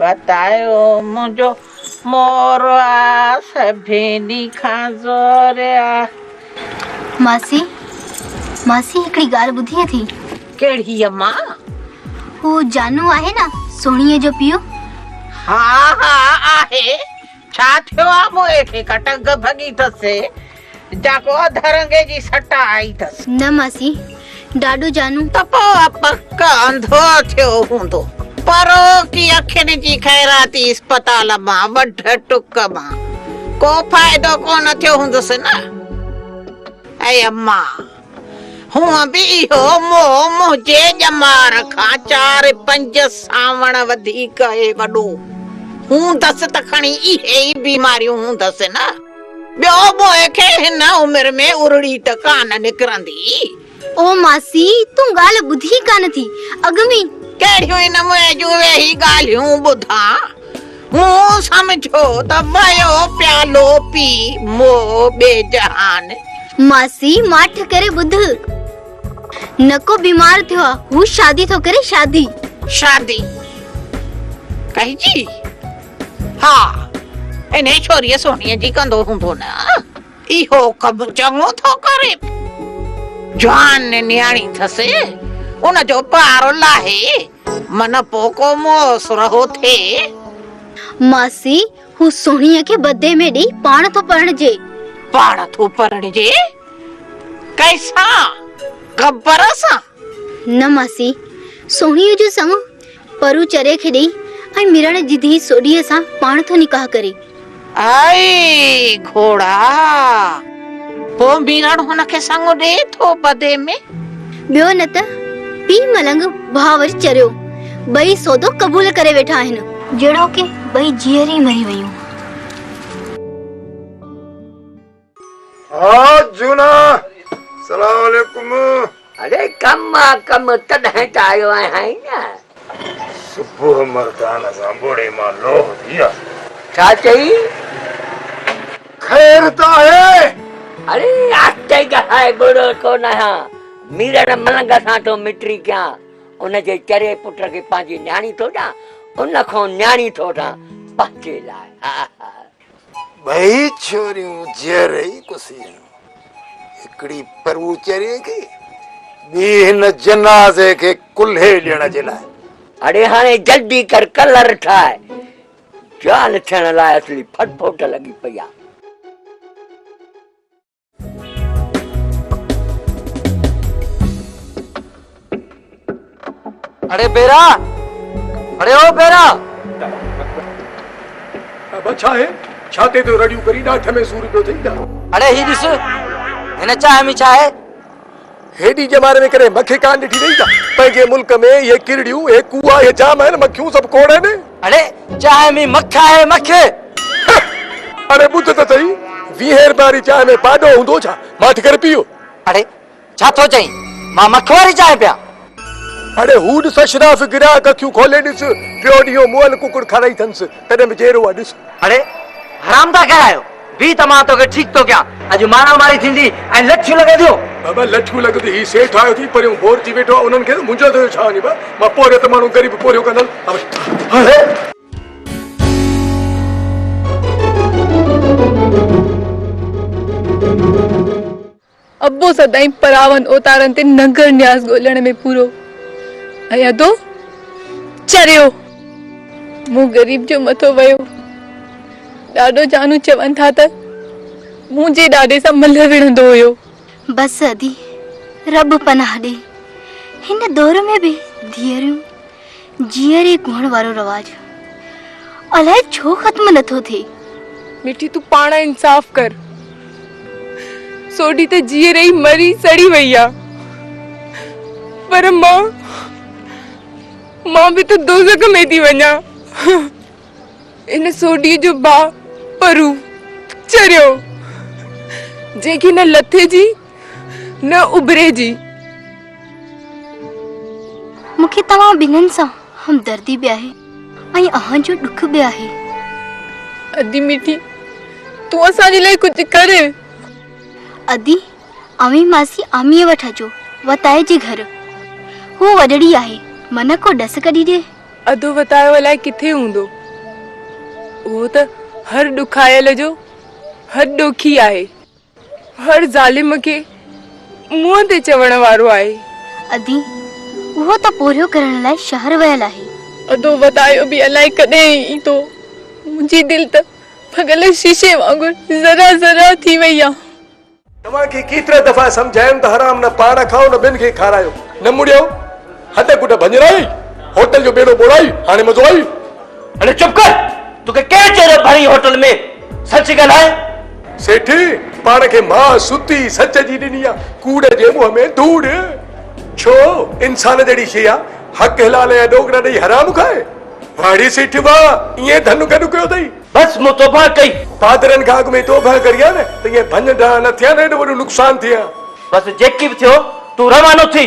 وتايو منهنجو مور آ سڀني کان زور آ. ماسي ماسي هڪڙي ڳالهه ٻڌيئي ٿي. ڪهڙي اما؟ هو جانو آهي نه سهڻيء جو پيء. ها ها آهي. ڇا ٿيو آ موئي کي ڪا ٽنگ ڀڳي ٿس جا ڪو اڌ رنگي جي سٽ آئي ٿس. نه ماسي ڏاڏو جانو. ته پوء پڪ انڌو ٿيو هوندو. پروڪي اکين جي خيراتي اسپتال مان وڍ ٽڪ مان ڪو فائدو ڪونه ٿيو هوندس نه اي امان. هونئن به اهو موهه منهنجي ڄمار کان چار پنج سانوڻ وڌيڪ اهي وڏو هوندس ته کڻي اهي ئي بيماريون هوندس نه. ٻيو موهه کي هن عمر ۾ ارڙي ته ڪانه نڪرندي. او ماسي تون ڳالهه ٻڌي ڪانه ٿي اڳ ۾ئي. ڪهڙيون هن موهه جون ويهي ڳالهيون ٻڌان. مون سمجهيو ته ويو پيالو پي مو ٻي جهان. ماسي ماٺ ڪري ٻڌ نڪو بيمار ٿيو آ هو شادي ٿو ڪري شادي. شادي ڪئجي ها انهي ڇوريء سهڻيء جي ڪندو هوندو نه. اهو ڪم چڱو ٿو ڪرين. جوان نياڻي ٿس ان جو بار لاهي من پو ڪو موس رهو ٿئي. ماسي هو سهڻيء کي بدي ۾ ڏيئي پاڻ ٿو پرڻجي. پاڻ ٿو پرڻجي! ڪنهن سان؟ گبر سان؟ نه ماسي، سهڻيء جو سڱو پرو چريء کي ڏئي ۽ ميرڻ جي ڌيء سوڍيء سان پاڻ ٿو نڪاح ڪري. آئي گهوڙا! پوء ميرڻ هن کي سڱو ڏئي ٿو بدي ۾؟ ٻيو نه ته پيء ملنگ ڀاء وري چريو، ٻئي سودو قبول ڪري ويٺا آهن. جهڙوڪ ٻئي جيئري مري ويون. ها جونا سلام عليڪم. اڙي ڪم آ ڪم تڏهن ته آيو آهين نه. صبح مردان سان ٻوڙي مان لوهه ٿي آ. ڇا چئي؟ خير ته آهي؟ اڙي آهستي ڳالهاء ٻوڙو ٿو ناهيان ميرڙ ملنگ سان ٿو مٽري ڪيان ان جي چري پٽ کي پنهنجي نياڻي ٿو ڏيان ان کان نياڻي ٿو وٺان پنهنجي لاء ها ها. ٻئي ڇوريون جيئري ئي ڪسيون، هڪڙي پروچري کي، ٻي هن جنازي کي ڪلهي ڏيڻ جي لاء. اڙي هاڻي جلدي ڪر ڪلر ٺاء، جوان ٿيڻ لاء اصلي ڦٽ ڦوٽ لڳي پئي آ. اڙي بيرا اڙي او بيرا. ابا ڇا هي ڇاتي تون رڙيون ڪرين ڏاٺ ۾ سور پيو ٿئي ڇا. اڙي هي ڏس هن چانهه ۾ ڇا آهي. هيڊي ڄمار ۾ ڪڏهن مکي ڪانه ڏٺي اٿئي ڇا؟ پنهنجي ملڪ ۾ اهي ڪرڙيون، اهي ڪوئا، اهي جام آهن، مکيون سڀ کوڙ آهن. اڙي چانهه ۾ مک آهي، مک! اڙي ٻڌ ته سهي، ويهين رپين واري چانهه ۾ پاڏو هوندو ڇا؟ ماٺ ڪري پيء. اڙي ڇا ٿو چئين، مان مک واري چانهه پيان؟ اڙي هو ڏس اشراف گراهڪ اکيون کولي ڏس ٽيو ڏينهون مئل ڪڪڙ کارائي اٿنس تڏهن به جيرو آ ڏس. اڙي حرام دا ڪهڙا آهيو بيهه ته مان توکي ٺيڪ ٿو ڪيان اڄ مارا ماري ٿيندي ۽ لٺيون لڳنديون. بابا لٺيون لڳنديون هي سيٺ آيو ٿي پريون بور ٿي ويٺو آ انهن کي منهنجو ٿيو ڇا وڃي با مان پورهيو ته ماڻهو غريب پورهيو ڪندل اڙي. ابو سدائين پراون اوتارن تي ننگر نياز ڳولڻ ۾ پورو ۽ ادو چريو. مون غريب جو مٿو ويو. ڏاڏو جانو چون ٿا ته منهنجي ڏاڏي سان ملهه وڙهندو هيو. بس ادي، رب پناهه ڏئي. هن دور ۾ به ڌيئريون جيئري گهڻ وارو رواج الاء ڇو ختم نٿو ٿئي. مٺي تون پاڻ انصاف ڪر. سوڍي ته جيئري ئي مري سڙي وئي آ. پر مان مان به ته دوزخ ۾ ٿي وڃان. ان سوڍي جو ڀاء پرو چريو جنهن کي نه لٿي جي نه اڀري جي. مون کي توهان ٻنهن سان همدردي به آهي ۽ اوهان جو ڏک به آهي. ادي مٺي تون اسان جي لاء ڪجهه ڪر. ادي اوهين ماسي آميء وٽ اچو وتايي جي گهر. هوء وڏڙي آهي منهن ڪو ڏس ڪڍي ڏي. ادو وتايو الائي ڪٿي هوندو. اهو ته هر ڏکايل جو هڏ ڏوکي آهي. هر ظالم کي منهن تي چوڻ وارو آهي. ادي، اهو ته پورهيو ڪرڻ لاء شهر ويل آهي. ادو، ودايو به الائي ڪڏهن ايندو. منهنجي دل ته ڀڳل شيشي وانگر ذرا ذرا ٿي وئي آ. توهان کي ڪيترا دفعا سمجهايم ته حرام نه پاڻ کائو نه ٻين کي کارايو. نه مڙيو. هڏ ڪڍ ڀڃرائي. هوٽل جو ٻيڙو ٻوڙائي. هاڻي مزو آئي. اڙي چپ ڪر توکي ڪير چيو جو ڀرئي هوٽل ۾ سچ ڳالهاء. سيٺ پاڻ کي ماء ستي سچ جي ڏني آ ڪوڙ جي منهن ۾ ڌوڙ ڇو انسان جهڙي شي آ حق حلال يا ڏوڪڙا ڏئي حرام کائي واڙي سيٺ واهه ائين ڌن گڏ ڪيو اٿئي. بس مون توبهه ڪئي. پادرن کان اڳ ۾ توبهه ڪري ها نه ته ائين ڀڃ ڊاهه نه ٿئي ها نه ايڏو وڏو نقصان ٿئي ها. بس جيڪي به ٿيو تون روانو ٿي.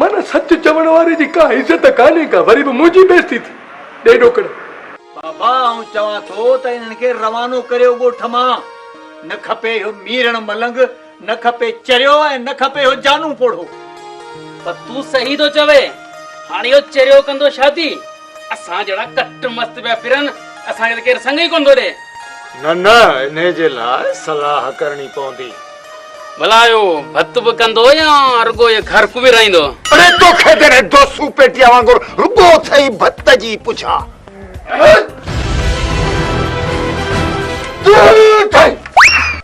معنيٰ سچ چوڻ واري جي ڪا عزت ڪانهي ڪا وري به منهنجي بيزتي ٿي ڏي ڏوڪڙ. بابا آئون چوان ٿو ته انهن کي روانو ڪريو ڳوٺ مان. نه کپي اهو ميرڻ ملنگ، نه کپي چريو ۽ نه کپي اهو جانو پوڙهو. پر تون صحيح ٿو چوين. هاڻ اهو چريو ڪندو شادي. اسان جهڙا ڪٽ مست پيا ڦرن، اسان کي ته ڪير سڱ ئي ڪونه ٿو ڏئي. نه نه، انهيء جي لاء صلاح ڪرڻي پوندي. ڀلا اهو ڀت به ڪندو يا رڳو اهي گهر ڪوبيرائيندو؟ اڙي توکي جڏهن دوسو پيٽيا وانگر رڳو اٿئي ڀت جي پڇا.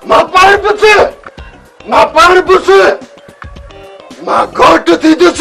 مان پاڻ پس، مان پاڻ پس، مان گهوٽ ٿيندس.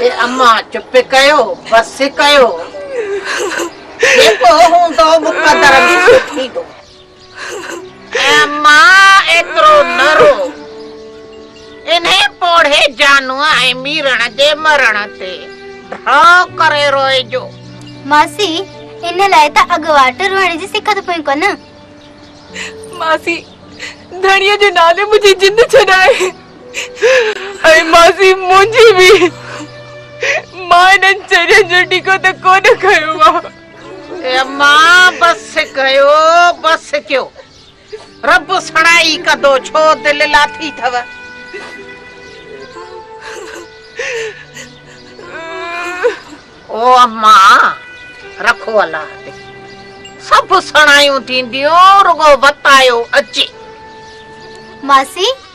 اي اما چپ ڪيو بس ڪيو جيڪو هوندو مقدر ۾ سو ٿيندو اي اما ايترو نه رو انهي پوڙهي جانو ۽ ميرڻ جي مرڻ تي ڍو ڪري روئجو ماسي ان لاء ته اڳواٽ روئڻ جي سکت پوئين ڪونه ماسي ڌڻيء جي نالي منهنجي جند ڇڏائي اي ماسي منهنجي به مان انهن چرين جو ٽيڪو ته ڪونه کنيو آ. اي اما بس ڪيو بس ڪيو رب سڻائي ڪندو ڇو دل لاٿي ٿو. او اما رکو الله تي سڀ سڻايون ٿينديون رڳو وتايو اچي. ماسي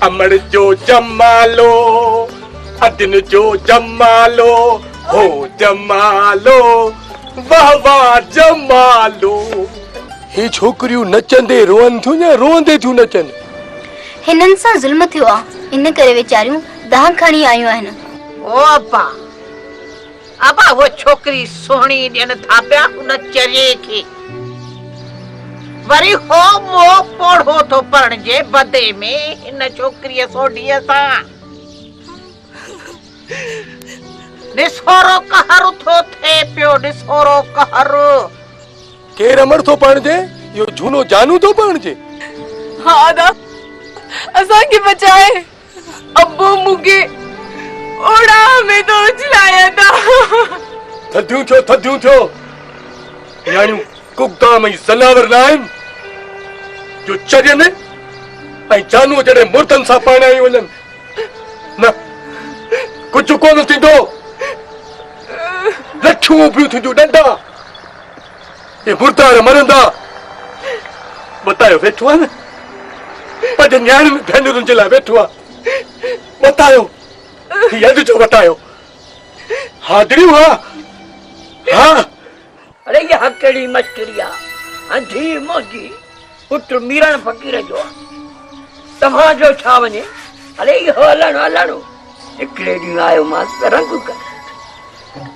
امڙ جو جمالو ادن جو جمالو هو جمالو واھ واھ جمالو. هي ڇوڪريون نچندي روئن ٿيون يا روئندي ٿيون نچن؟ هنن سان ظلم ٿيو آ ان ڪري ويچاريون دانهن کڻي آيون آهن. او اپا! ابا هوء ڇوڪري سهڻي ڏين ٿا پيا هن چريي کي. وري هو مئو پوڙهو ٿو پرڻجي بدي ۾ هن ڇوڪريء سوڍيء سان. نسورو قهر اٿو ٿئي پيو نسورو قهر. ڪير امڙ ٿو پرڻجي اهو جهونو جانو ٿو پرڻجي. ها ادا اسان کي بچاء. ابو مون کي اوڙاهه ۾ ٿو اڇلاين ها ها. ٿڌيون ٿيو ٿڌيون ٿيو. نياڻيون ڪوڪام ۽ زناور نه آهن جو چرين ۽ جانوء جهڙين مردن سان پرڻايون وڃن. نه ڪجهه ڪونه ٿيندو. لٺيون اڀيون ٿينديون ڏنڊا. اي مردار مرندا! متايو ويٺو آ نه، پنهنجن نياڻين ۽ ڀينرن جي لاء ويٺو آ. متايو، هي اڄ جو متايو. ها دريون ها، ها! اڙي اها ڪهڙي مشڪري آ، ۽ ڌيء منهنجي پٽ ميرڻ فقير جو آ. توهان جو ڇا وڃي، اڙي اهو الهڻو الهڻو. هڪڙي ڏينهن آيومانس ته رنگ ڪرڻ.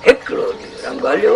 هڪڙو ڏينهن رنگ هليو.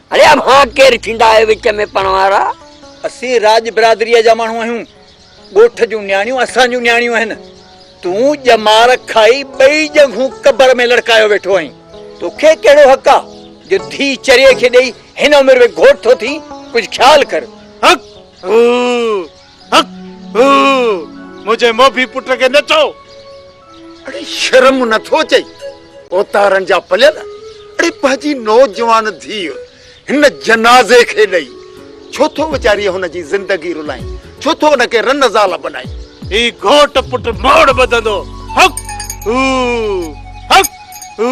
اڙي اوهان ڪير ٿيندا آهيو وچ ۾ پڙهڻ وارا؟ اسين راڄ برادريء جا ماڻهو آهيون. ڳوٺ جون نياڻيون اسان جون نياڻيون آهن. تون ڄمار کائي ٻئي ڄنگهون قبر ۾ لڙڪايو ويٺو آهين. توکي ڪهڙو حق آ جو ڌيء چريي کي ڏئي هن عمر ۾ گهوٽ ٿو ٿين. ڪجهه خيال ڪر. هڪ! هو! هڪ هو منهنجي موڀي پٽ کي نه چئو. اڙي شرم نه ٿو اچئي اوتارن جا پليل اڙي پنهنجي نوجوان ڌيء هن جنازي کي ڏئي ڇو ٿو ويچاري هن جي زندگي رلائين ڇو ٿو ان کي رن زال بنائين. هي گهوٽ پٽ موڙ ٻڌندو هڪ هو هڪ هو.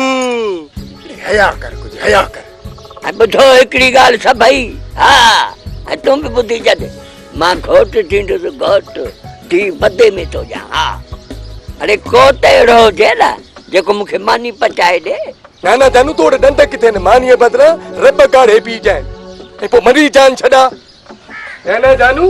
اڙي حياء ڪر ڪجهه حياء ڪر. ٻڌو هڪڙي ڳالهه سڀئي ها ۽ تون به ٻڌي ڇڏ. مان گهوٽ ڏيندس گهوٽ ڌي بدي ۾ ٿو ڏيان ها اڙي ڪو ته اهڙو هجي نه جيڪو مون کي ماني پچائي ڏي. نانا جانو تو وٽ ڏند ڪٿي آهن مانيء بدران رٻ ڪاڙهي پي جانء ۽ پوء مري جان ڇڏاء. نانا جانو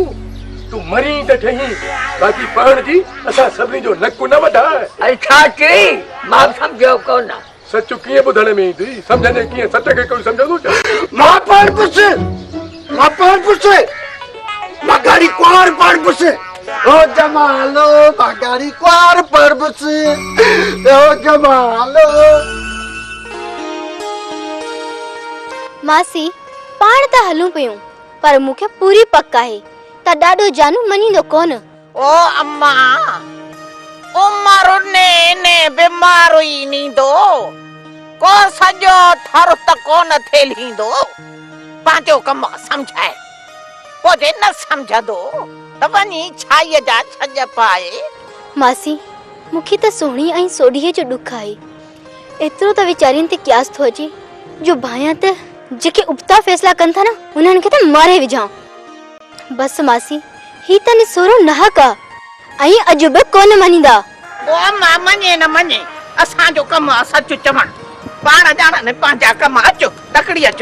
تون مرين ته ٺهين باقي پاڻ جي اسان سڀني جو نڪ نه وڍاء. اڙي ڇا چئين مان سمجهيو ڪونه. سچ ڪيئن ٻڌڻ ۾ ايندي سمجهندي ڪيئن سچ کي ڪوئي سمجهندو ڇا مان پاڻ پڇ مان پاڻ پڇ مان گاڙي ڪوار پاڻ پڇ او جمالو مان گاڙي ڪوار پاڻ پڇ او جمالو ماسي پاڻ ته هلون پيون پر مون کي پوري پڪ آهي ته ڏاڏو جانو مڃيندو ڪونه او اما! عمر اني اني بيمار ئي نيندو، ڪو سڄو ٿر ته ڪونه ٿيلهيندو، پنهنجو ڪم سمجهائي، پوء جي نه سمجهندو ته وڃي ڇائيء جا ڇڄ پائي. ماسي، مون کي ته سهڻي ۽ سوڍيء جو ڏک آهي. ايترو ته ويچارين تي قياس ٿو اچي جو ڀانئيان ته جيڪي ابتا فيصلا ڪن ٿا نه، انهن کي ته ماري وجهان. بس ماسي هي ته نسورو ناحق آ ۽ اڄ به ڪونه مڃيندا. معما مڃي نه مڃي اسان جو ڪم آ سچ چوڻ پاڻ ڄاڻن پنهنجا ڪم اچ تڪڙي اچ.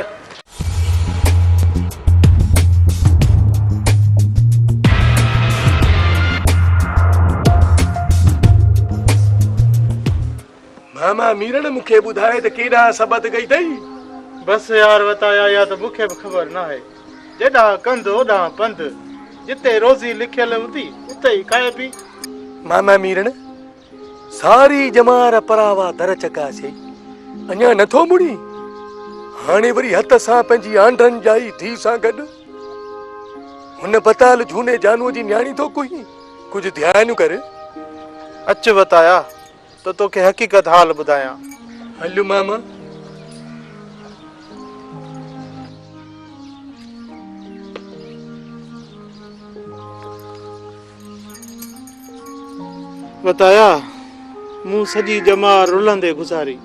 ماما ميرڻ مون کي ٻڌائي ته ڪيڏانهن سبت گئي اٿئي؟ بس يار وتايا اها ته مون کي به خبر ناهي. جيڏانهن ڪنڌ اوڏانهن پنڌ. جتي روزي لکيل هوندي اتي ئي کائبي. ماما ميرڻ ساري ڄمار پراوا در چڪاسيائين. اڃا نٿو مڙين؟ هاڻي وري هت سان پنهنجي آنڊن ڄائي ڌيء سان گڏ؟ هن بتال جهوني جانوء جي نياڻي ٿو ڪوهين؟ ڪجهه ڌيان ڪر. اچ وتايا ته توکي حقيقت حال ٻڌايان. هليون ماما. وتايا، مون سڄي ڄمار رلندي گذاري.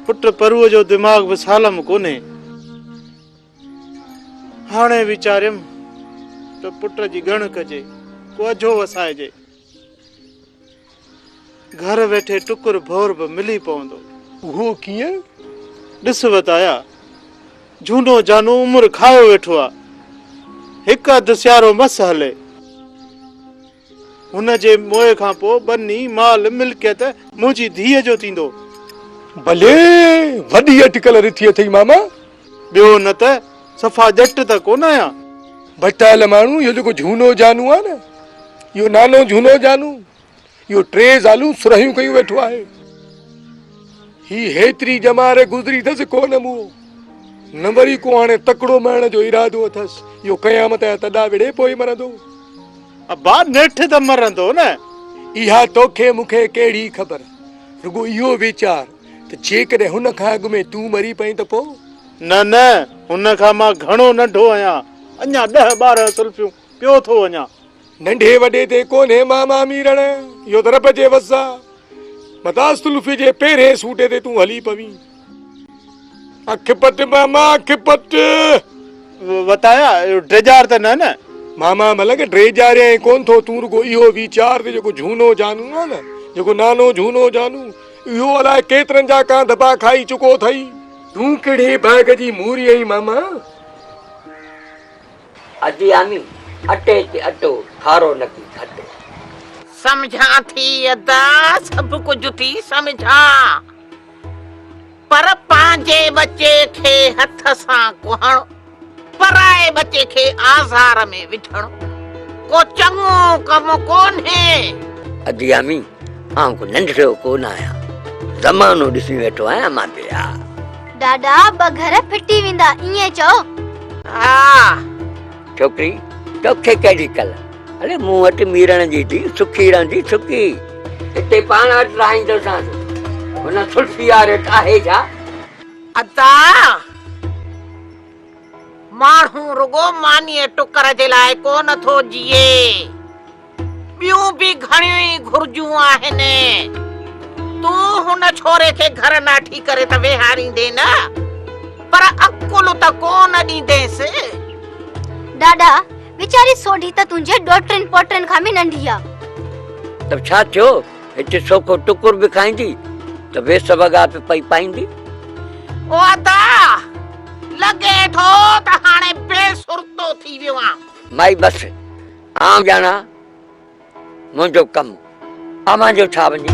پٽ پروء جو دماغ به سالم ڪونهي. هاڻي ويچاريم ته پٽ جي ڳڻ ڪجي، ڪو اجهو وسائجي. گهر ويٺي ٽڪر ڀور به ملي پوندو. اهو ڪيئن؟ ڏس وتايا، جهونو جانو عمر کايو ويٺو آ. هڪ اڌ سيارو مس هلي. هن جي موئي کان پوء ٻني، مال، ملڪيت منهنجي ڌيء جو ٿيندو. بلي! وڏي اٽڪل رٿي اٿئي ماما! ٻيو نه ته صفا ڄٽ ته ڪونه آهيان. ڀٽائيل ماڻهو اهو جيڪو جهونو جانو آهي نه اهو نانو جهونو جانو اهو ٽي زالون سرهيون ڪيون ويٺو آهي. هي هيتري ڄمار گذري اٿس ڪو نه موهو نه وري ڪو هاڻي تڪڙو مهڻ جو ارادو اٿس اهو قيامت جا تڏا وڙهي پوء مرندو. ابا نيٺ ته مرندو نه. اها توکي مونکي ڪهڙي خبر رڳو اهو ويچار. ته جيڪڏهن هن کان اڳ ۾ تون مري پئين ته پوء؟ نه نه، هن کان مان گهڻو ننڍو آهيان، اڃا ڏهه ٻارهن سلفيون پيو ٿو وڃان. ننڍي وڏي تي ڪونهي ماما ميرڻ، اهو ته رب جي وس آ. متان سلفي جي پهرئين سوٽي تي تون هلي پوين. اک پٽ ماما، اک پٽ. وتايا، اهو ڊيڄار ته نه نه؟ ماما ملنگ، ڊيڄاريائين ڪونه ٿو، تون رڳو اهو ويچار ته جيڪو جهونو جانو آ نه، جيڪو نانو جهونو جانو، اهو الاء ڪيترن جا ڪان ڌٻا کائي چڪو اٿئي. تون ڪهڙي باغ جي موري آهين ماما؟ ادياني، اٽي تي اٽو، کارو نڪي کٽو. سمجهان ٿي ادا، سڀ ڪجهه ٿي سمجهان، پر پنهنجي ٻچي کي هٿ سان ڪهڻ. پرائي ٻچي کي آزار ۾ وجهڻ ڪو چڱو ڪم ڪونهي. اديامي، آئون ڪو ننڍڙو ڪونه آهيان. زمانو ڏسي ويٺو آهيان مان پيا. ڏاڏا، ٻه گهر ڦٽي ويندا، ائين چئو. ها. ڇوڪري، توکي ڪهڙي ڪل. اڙي مون وٽ ميرڻ جي ڌي سکي رهندي، سکي. هتي پاڻ وٽ رهائيندوسانس. هن سلفي آرٽ آهي ڇا؟ ادا ماڻهو رڳو مانيء ٽڪر جي لاء ڪونه ٿو جيئي، ٻيون به گهڻيون ئي گهرجون آهن. تون هن ڇوري کي گهر ناٺي ڪري ته ويهاريندين نه، پر عقل ته ڪونه ڏيندينس. ڏاڏا، ويچاري سوڍي ته تنهنجي ڏوهٽن پوٽن کان به ننڍي آ. ته ڇا ٿيو؟ هتي سوکو ٽڪر به کائيندي ته ويس وڳا به پئي پائيندي او ادا لڳي ٿو ته هاڻي بي سرتو ٿي ويو آهيان مائي بس آئون ڄاڻان منهنجو ڪم اوهان جو ڇا وڃي.